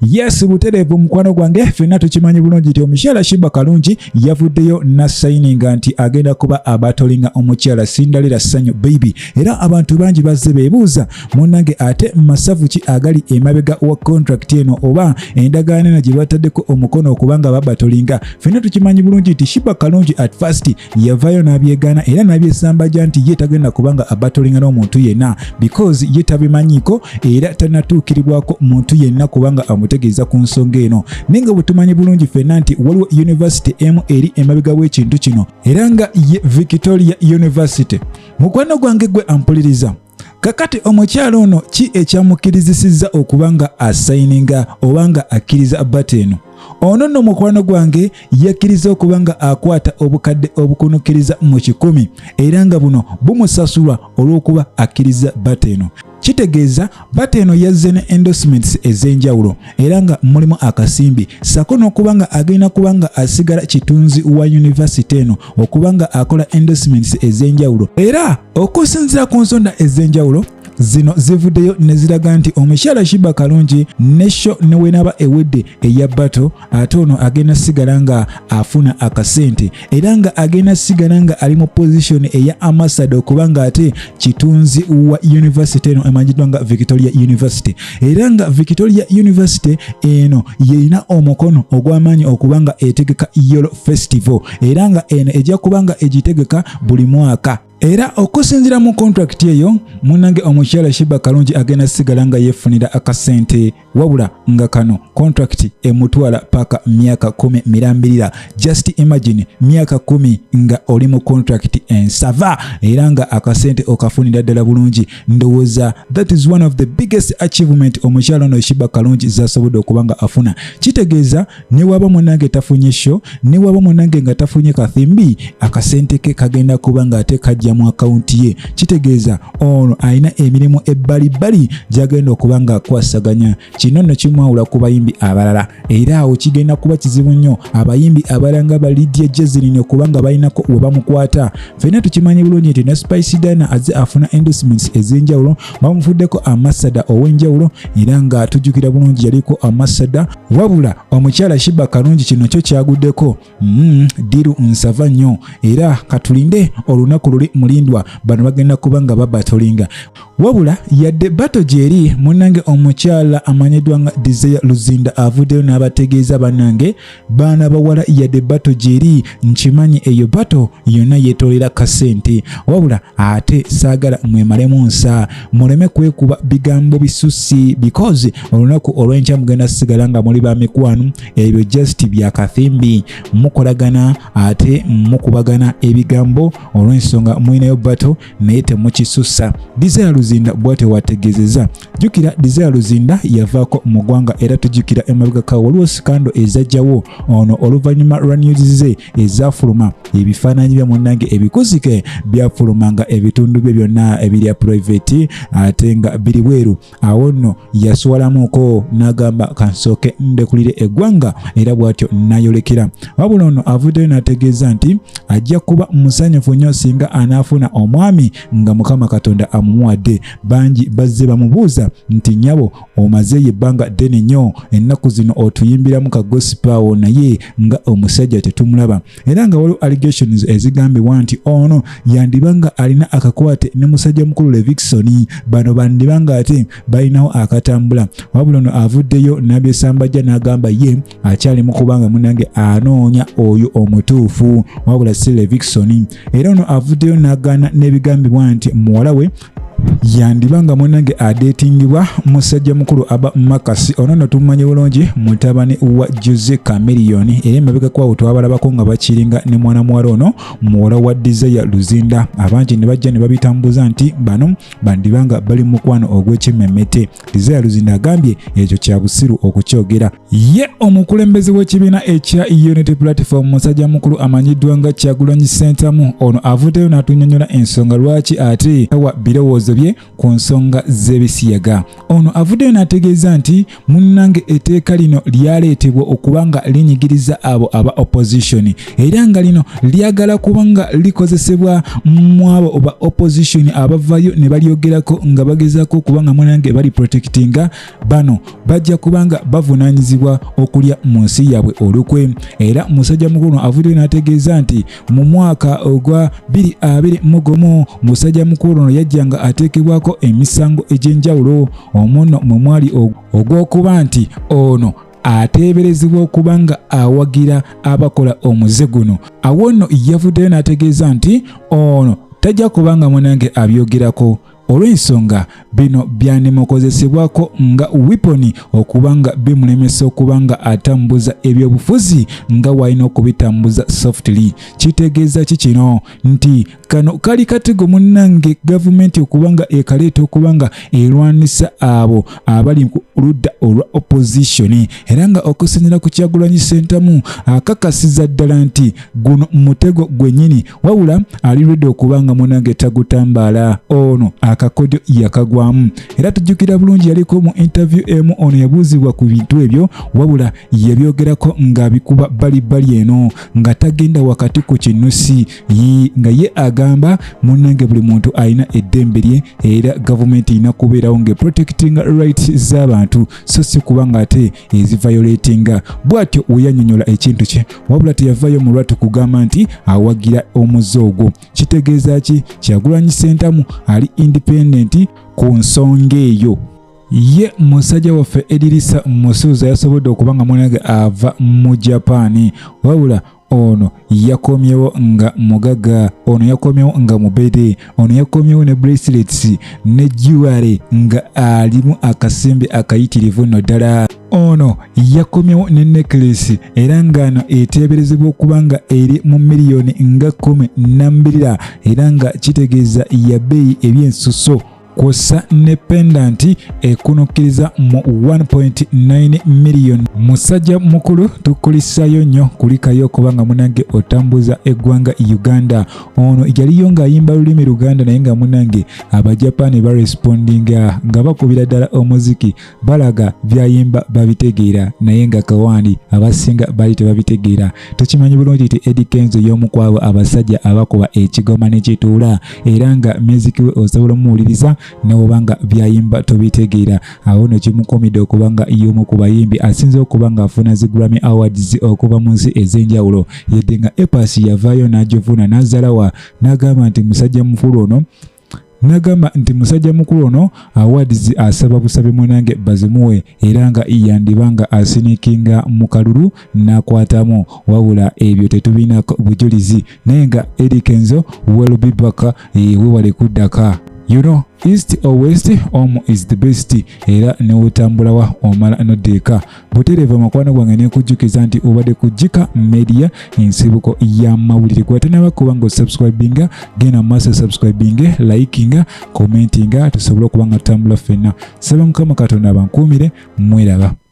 Yes butereevu mukwano gwange fenna tukimanyi bulungi nti omukyala Shiba Kalungi yavuddeyo na sayininga nti agenda kuba abatolinga omukyala Cinderella Sanyu baby era abantu bangi bazze beebuuza munnange ate masavu ki agali emabega wa contract eno oba endagaano eno gye bataddeko omukono okubanga babatolinga fenna tukimanyi bulungi nti Shiba Kalungi at first yavayo n'abyegaana era n'abyesambajja nti ye tagenda kubanga abatolinga n'omuntu yenna because ye tabimanyiiko era tanatuukiribwako muntu yenna kubanga amutegeeza ku nsonga eno naye nga bwetumanyi bulungi fenna nti waliwo yunivasite emu eri emabega w'ekintu kino era nga ye victoria university mukwano gwange gwe ampuliriza kakati omukyala ono ki ekyamukirizisizza okuba nga asayininga oba nga akkiriza bata eno ono nno mukwano gwange yakkiriza okuba nga akwata obukadde obukunukiriza mu kikumi era nga buno bumusasulwa olw'okuba akkiriza bata eno kitegeeza bata eno yazze ne endorsements ez'enjawulo era nga mulimu akasimbi sako n'okuba nga agenda kuba nga asigala kitunzi wa yunivasite eno okuba nga akola endorsements ez'enjawulo era okusinzira ku nsonda ez'enjawulo zino zivuddeyo ne ziraga nti omukyala shiba kalungi ne sho ne wenaaba ewedde eya bato ate ono agenda sigala nga afuna akasente era nga agenda sigala nga ali mu pozishoni eya amasada okuba nga ate kitunzi wa yunivasite eno emanyiddwa nga victoria university era nga victoria university eno yerina omukono ogw'amaanyi okuba nga etegeka yolo festival era nga eno ejja kuba nga egitegeka buli mwaka era okusinzira mu kontrakiti eyo munange omukyala shiba kalungi agenda sigala nga yefunira akasente wabula nga kano kontrakiti emutwala paka myaka kumi mirambirira just imagine myaka kumi nga oli mu kontrakiti ensava era nga akasente okafunira ddala bulungi ndowooza that is one of the biggest achievement omukyala ono shiba kalungi zasobodde okuba nga afuna kitegeeza newaba munange tafunye sho newaba munange nga tafunye kathimbi akasente ke kagenda kuba nga ate kajja mu akawunti ye kitegeeza ono alina emirimu ebbalibbali gyagenda okuba nga akwasaganya Kino nno kimwawula ku bayimbi abalala era awo kigenda kuba kizibu nnyo abayimbi abalala nga ba Lydia Jazmine kubanga balinako we bamukwata. Ffenna tukimanyi bulungi nti ne Spice Diana azze afuna endorsements ez'enjawulo bamufuddeko amasada ow'enjawulo era nga tujjukira bulungi yaliko amasada wabula omukyala Shiba Kalungi kino kyo kyaguddeko Mm, diru nsava nnyo era katulinde olunaku luli mulindwa bano bagenda kuba nga babatolinga wabula yadde bato gyeri munange omukyala amanyiddwa nga desire luzinda avuddeyo n'abategeeza banange baana bawala yadde bato gyeri nkimanyi eyo bato yonna yetolera kasente wabula ate saagala mwemalemu nsa muleme kwekuba bigambo bisusi because olunaku olwenkya mugenda sigala nga muli ba mikwano ebyo just bya kathimbi mukolagana ate mukubagana ebigambo olw'ensonga mulinayo bato naye temukisussa desire luzinda bwate wategezeza jukira desire luzinda yavaako mu ggwanga era tujukira emabegaka waliwo sikando ezajjawo ono oluvannyuma lwa news ze ezafuluma ebifaananyi bya munnange ebikuzike byafulumanga ebitundu bye byonna ebirya private ate nga biri bweru awo nno yaswalamuko n'agamba kansooke ndekulire eggwanga era bw'atyo nayolekera wabula ono avuddeyo n'ategeeza nti ajja kuba musanyufu nnyo singa anaafuna omwami nga mukama katonda amumuwadde bangi bazze bamubuuza nti nyabo omazeeyo ebbanga ddene nnyo ennaku zino otuyimbiramu ka gosipaawo naye nga omusajja tetumulaba era nga waliwo allegations ezigambibwa nti ono yandiba nga alina akakwate ne musajja mukulu Levixon bano bandiba nga ate balinawo akatambula wabula ono avuddeyo nabyesambajja n'agamba ye akyali mu kubanga munange anoonya oyo omutuufu wabula si Levixon era ono avuddeyo n'agaana n'ebigambibwa nti muwala we yandiba nga munange adetingibwa musajja mukulu aba makasi ono no tumumanye bulungi mutabani wa jose cameriyoni era emabega kwawo twabalabako nga bakiringa ne mwana muwala ono muwala wa desire luzinda abangi ne bajja ne babitambuza nti bano bandiba nga bali mukwano ogw'ekimemete desire luzinda agambye ekyo kya busiru okukyogera Ye omukulembeze w'ekibiina ekya Unity Platform musajja mukulu amanyiddwa nga Kyagulanyi Ssentamu ono avuddeyo n'atunyonyola ensonga lwaki ate tawa birowoozo bye ku nsonga z'ebisiyaga. Ono avuddeyo n'ategeeza nti munnange etteeka lino lyaleetebwa okuba nga linyigiriza abo aba opposition era nga lino lyagala kuba nga likozesebwa mu abo ba opposition abavayo ne balyogerako nga bagezaako okuba nga munnange bali protectinga bano bajja kubanga bavunanyizibwa okulya mu nsi yaabwe olukwe era musajja mukulu avuddeyo n'ategeeza nti mu mwaka ogwa 22 mugumu musajja mukulu ono yajjanga ateekebwako emisango egy'enjawulo omuno mwe mwali ogw'okuba nti ono ateeberezebwa okuba nga awagira abakola omuze guno awo nno yavuddeyo n'ategeeza nti ono tajja kubanga munange abyogerako olw'ensonga bino byandimukozesebwako nga wiponi okuba nga bimulemesa okuba nga atambuza ebyobufuzi nga walina okubitambuza softly kitegeeza ki kino nti kano kali katego munnange gavumenti okuba nga ekaleeta okuba nga erwanisa abo abali ku ludda olwa opozisoni era nga okusinzira ku kyagulanyi sentamu akakasiza ddala nti guno mutego gwenyini wabula ali redi okuba nga munange tagutambaala ono akakodyo yakagwamu era tujjukira bulungi yaliko mu interview emu ono yabuuzibwa ku bintu ebyo wabula yabyogerako nga bikuba balibbali eno nga tagenda wakati ku kinusi yi nga ye agamba munange buli muntu alina eddembe lye era gavumenti erina kubeerawo nga protecting rights z'abantu so si kuba nga ate ezivayoletinga bw'atyo weyanyonyola ekintu kye wabula teyavayo mu lwatu kugamba nti awagira omuze ogwo kitegeeza ki kyagulanyi sentamu ali indipendenti ku nsonga eyo ye musajja waffe edirisa musuuza yasobodde okuba nga mwanage ava mu japaani wabula ono yakomyewo nga mugaga ono yakomyewo nga mubede ono yakomyewo ne bracelets ne jewelry nga alimu akasimbi akayitirivu no ddala ono yakomyewo ne necklace era ngano eteeberezebwa okuba nga eri mu miliyoni nga kumi nambirira era nga kitegeeza yabeeyi ebyensuso kwossa ne pendanti ekunukkiriza mu 1.9 million musajja mukulu tukulisayo nnyo kulikayo okuba nga munange otambuza eggwanga uganda ono yaliyo ng'ayimba lulimi luganda naye nga munange abajapaani barespondinga nga bakubira ddala omuziki balaga byayimba babitegeera naye nga kawani abasinga bali tebabitegeera tukimanyi bulungi nti edi kenzo y'omu kwabo abasajja abakuba ekigoma nekituula era nga miziki we osobola omuwuliriza newoba nga byayimba tobitegeera awo no kimukomidde okuba nga y'omu ku bayimbi asinze okuba nga afuna zi grammy awards okuva mu nsi ez'enjawulo yedde nga epas yavaayo n'agivuna n'azalawa n'agamba nti musajja mukulu ono nagamba nti musajja mukulu ono awards asaba busabe mwanange bazimuwe era nga yandiba nga asinikinga mu kalulu n'akwatamu wabula ebyo tetubina bujulizi naye nga edikenzo welbibaka eh, wewale kuddaka you know east or west omu is the best era newotambulawa omala nodeeka butereeva mukwano gwange nekujjukiza nti obadde ku jika media ensibuko y'amawulire gwatanaba kuba nga osubscribinga genda mu maaso subscribinge likinga commentinga tusobole okuba nga tutambula ffenna saba mukama katonda abankuumire mweraba